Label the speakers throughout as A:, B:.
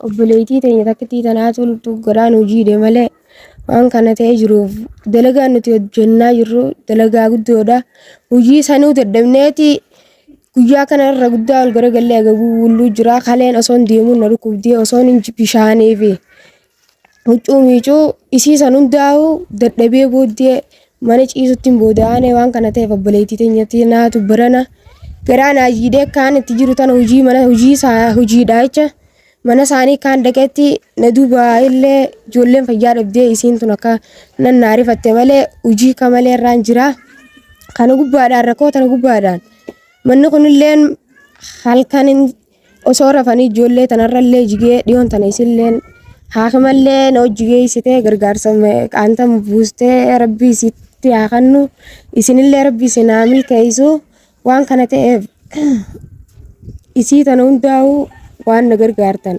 A: Obboleettii teenya takkittii tanaa toltu garaan hojiidhe malee waan kana ta'ee jiruuf dalagaan nuti hojjennaa jirru dalagaa guddoodha. Hojii sanuu dadhabneeti guyyaa kana irra guddaa ol garagallee agabuu bulluu jira. Kaleen osoon deemuun na dhukkubdee osoon hin bishaanee fi huccuu miicuu isii san hundaa'uu dadhabee booddee mana ciisutti hin booda'aane waan kana ta'eef obboleettii teenyatti naatu barana garaa naa jiidhee kaan itti jiru tana hojii mana hojii isaa hojiidha jecha mana isaanii kaan dhaqetti na duuba illee ijoolleen fayyaa dhabdee isiin tun akka nan naa rifatte malee hojii ka malee irraan jira kana gubbaadhaan rakkoo tana gubbaadhaan manni kunilleen halkan hin- Osoo rafanii ijoollee tanarrallee jigee dhiyoon tana isilleen haakimallee na hojji geessitee gargaarsa qaantan buustee rabbii isitti haa kennu isinillee rabbii isin haa milkeessu waan kana ta'eef isii tana hundaa'uu waan na gargaartan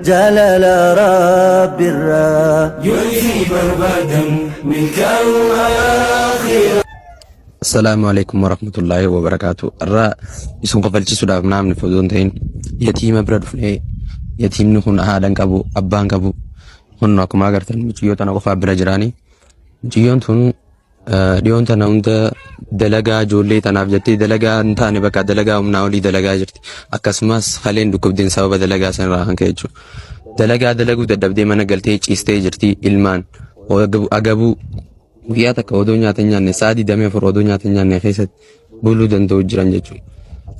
B: Jaalala Rabbirraa. Yoo isii barbaadan milkaa'uu aakhiraa.
C: Assalaamu alaikum warahmatullaahi wabarakaatu irraa isin kofalchisuudhaaf naamni fodoo hin ta'in yatiima bira dhufnee yatiimni kun haadhan qabu abbaan qabu kun akkuma agartan mucayyoo tana qofaa bira jiraanii mucayyoon tun Dhiyoon tana hunda dalagaa ijoollee tanaaf jettee dalagaa hin taane bakka dalagaa humnaa olii dalagaa jirti. Akkasumas haleen dhukkubdeen sababa dalagaa sanarraa kan ka'e jechuudha. Dalagaa dalaguu dadhabdee mana galtee ciistee jirti ilmaan agabuu guyyaa takka odoo nyaata hin nyaanne sa'a 24 odoo nyaata hin nyaanne keessatti buluu danda'u jiran jechuudha.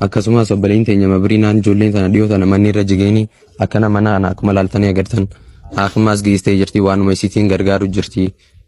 C: Akkasumas obboleen teenya mabriinaan ijoolleen tana dhiyoo tana manni irra jigeenii akkana mana kana akkuma laaltanii agartan akkasumas geessee jirti waanuma isiitiin gargaaru jirti.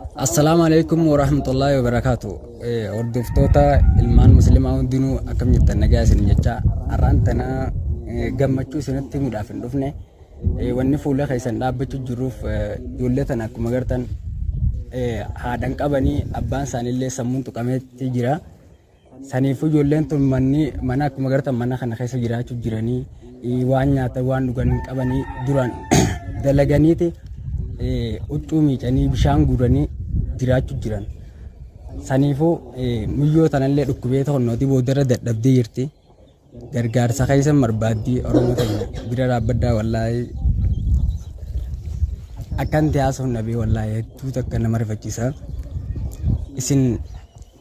B: Assalaamu
D: alaikum warahmatullahi wabarakaatu. Hordoftoota ilmaan muslimaa hundinuu akkam jirtan nagaa isin jecha har'aan tana eh, gammachuu isinitti himuudhaaf hin dhufne Eh, wanni fuula keessan dhaabbachuu jiruuf eh, ijoollee tana akkuma gartan eh, haadhan qabanii abbaan isaaniillee sammuun tuqameetti jira. Saniifuu ijoolleen tun manni mana akkuma gartan mana kana keessa jiraachuu jiranii eh, waan nyaatan waan dhugan hin qabanii duraan dalaganiiti eh, huccuu miicanii bishaan guuranii jiraachuu jiran. Saniifuu eh, muyyoo tanallee dhukkubee to'annootii boodarra dadhabdee jirti. Gargaarsa keessa barbaaddii Oromoo ta'e bira dhaabbaddaa wallaahi akkanti haasofna bee wallaahi hedduu takka nama rifachiisa. Isin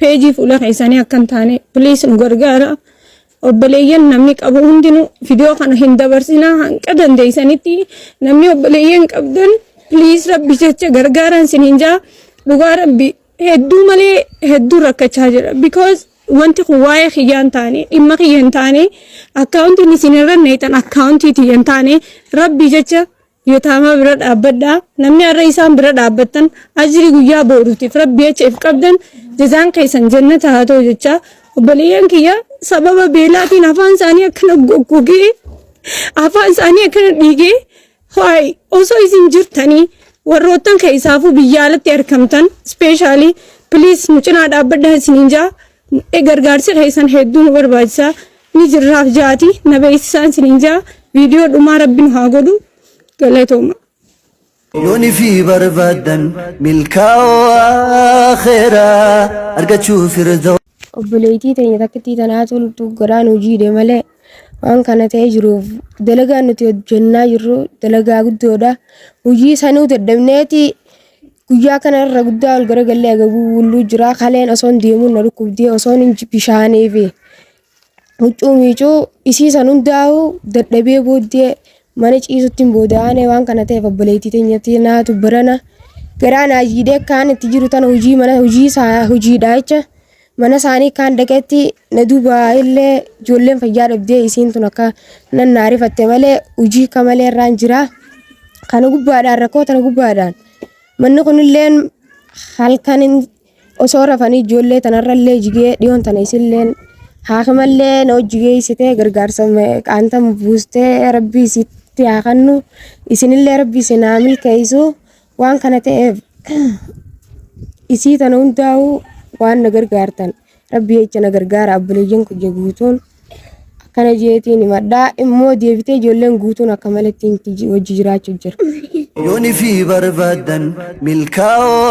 A: Peejii fuula keessanii akka hin taane please nu gargaara. Obboleeyyan namni qabu hundinuu viidiyoo kana hin dabarsinaa hanga dandeessanitti namni obboleeyyan qabdan please rabbi jecha gargaaraan sin hin jaa dhugaa rabbi hedduu malee hedduu rakkachaa jira because wanti kun waa'ee kiyyaa hin taane dhimma kiyya hin taane akkaawuntiin isin irra neetan akkaawuntii tiyya hin taane rabbi jecha Yotaamaa bira dhaabbadhaa. Namni har'a isaan bira dhaabbattan ajrii guyyaa booruutiif rabbi jecha if qabdan jazaan keessan jannata haa ta'u jechaa obboleeyyan kiyya sababa beelaatiin afaan isaanii akkana goggogee afaan isaanii akkana dhiigee ho'aay osoo isin jirtanii warroottan keessaafuu biyya alatti argamtan ispeeshaalii piliis nu cinaa dhaabbadhaa isiniin jaa Gargaarsi keessan hedduu nu barbaachisa. Ni jirraaf jaati na beeksisaan sinin jaa viidiyoo dhumaa rabbi nu haa godhu galatooma.
B: Yooni fi barbaadan milkaa'oo akhiraa argachuu firdaw. obboleettii teenya
A: takkittii tanaa toltu godhaan hojiidhe malee waan kana ta'ee jiruuf dalagaa nuti hojjennaa jirru dalagaa guddoodha. Hojii sanuu dadhabneeti Guyyaa kana irra guddaa ol garagallee agabuu bulluu jira. Kaleen osoon deemuun na dhukkubdee osoon hin bishaanee fi huccuu miicuu isiisan hundaa'u dadhabee booddee mana ciisutti hin booda'aane waan kana ta'eef obboleettii teenyatti naatu barana garaa naa jiidhee kaan itti jiru tana hojii mana hojii isaa hojiidhaa jecha mana isaanii kaan dhaqeetti na duuba illee ijoolleen fayyaa dhabdee isiin tun akka nan naa rifatte malee hojii akka malee irraan jira. Kana gubbaadhaan rakkoo tana gubbaadhaan manni kunillee halkan hin- osoo rafanii ijoollee tanarrallee jigee dhiyoon tana isillee haakimallee na hojii geessitee gargaarsa qaantan buustee rabbii isitti haa kennu isinillee rabbii isin haa milkeessu Waan kana ta'eef isii tana hundaa'uu waan na gargaartan rabbi jecha na gargaara abboleeyyan kiyya guutuun akkana jeetiin himadhaa immoo deebitee ijoolleen guutuun akka maletti inti ji- wajji jiraachuu jira. Yooni fi
B: barbaadan milkaa'oo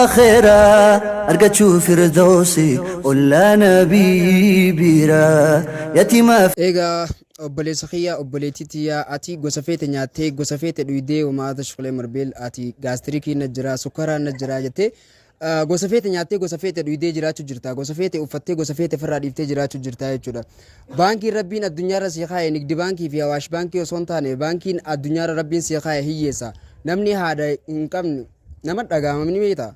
B: akhiraa argachuu firdoosi ollaana biiraa yatimaaf Egaa
D: Obboleessa kiyya obboleettii tiyya ati gosa feete nyaattee gosa feete dhuydee womaa tashqulee marbeel ati gaastirikiin na jira sukkaraan na jira jettee ah, gosa feete nyaattee gosa feete dhuydee jiraachuu jirta gosa feete uffattee gosa feete firraa dhiiftee jiraachuu jirta jechuudha baankiin rabbiin addunyaarra sii kaa'e nigdi baankii fi hawaash baankii osoo hin taane baankiin addunyaarra rabbiin sii kaa'e hiyyeessa namni haada hin qabne nama dhagaamamni beektaa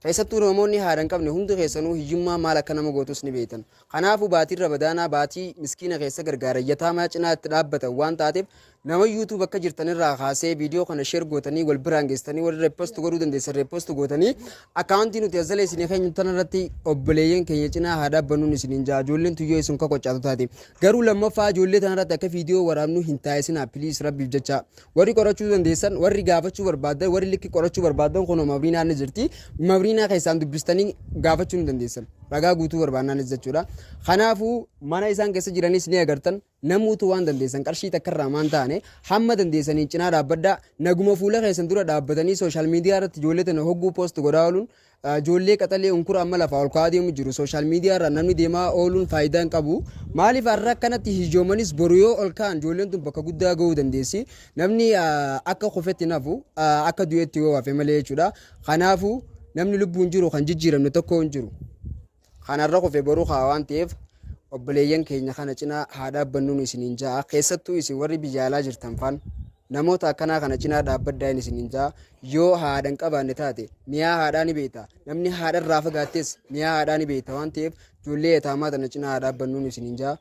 D: Keessattuu Roomoonni haadha hin qabne hundi keessanuu hiyyummaan maal akka nama gootus ni beektan. Kanaafuu baatiin Ramadaanaa baatii miskiina keessa gargaaran, yataamaa cinaa itti dhaabbatan waan taateef nama YouTube akka jirtan irraa kaasee viidiyoo kana share gootanii wal biraan geessitanii warri repost godhuu dandeessan repost gootanii akkaawuntii nuti as jala isinii keenyu tana irratti obboleeyyan keenya cinaa haa dhaabbannuun isiniin ja'a ijoolleen tuyyoo isin kokochaatu taate. Garuu lammaffaa ijoollee tana irratti akka viidiyoo waraabnu hin taasisinaa please rabbiif jecha. Warri qorachuu dandeessan, warri gaafachuu barbaaddan, warri likki qorachuu barbaaddan kunoo Mabriinaan ni jirti. Mabriinaa keessaan dubbistanii gaafachuu ni dandeessan. Ragaa guutuu barbaannaanis jechuudha. Kanaafuu mana isaan keessa jiranis ni agartan. Namuutu waan dandeessan qarshii takka irraa maan taane hamma dandeessaniin cinaa dhaabbadhaa. Naguma fuula keessan dura dhaabbatanii sooshaal miidiyaa irratti ijoollee tana hogguu poost godhaa ooluun Ijoollee qaxalee unkura amma lafaa ol ka'aa deemu jiru. Social media irraan namni deemaa ooluun faayidaa hin qabu. Maaliif har'a akkanatti hijoomanis boru yoo ol ka'an ijoolleen tun bakka guddaa ga'uu dandeessi. Namni akka kufetti hin hafu akka du'etti yoo hafe malee jechuudha. Kanaafuu namni lubbuun jiru kan jijjiiramne tokko hin jiru. Kan har'a kufe boru ka'a waan ta'eef obboleeyyan keenya kana cina haa dhaabbannuun isiniin ja'a. Keessattuu isin warri biyya alaa jirtan faan namoota akkanaa kana cinaa dhaabbaddaa hin isiniin ja'a. Yoo haadha hin qabaanne taate miyaa haadhaa ni beekta. Namni haadha irraa fagaattes miyaa haadhaa ni beekta waan ta'eef ijoollee yataamaa tana cinaa haa dhaabbannuun isiniin ja'a.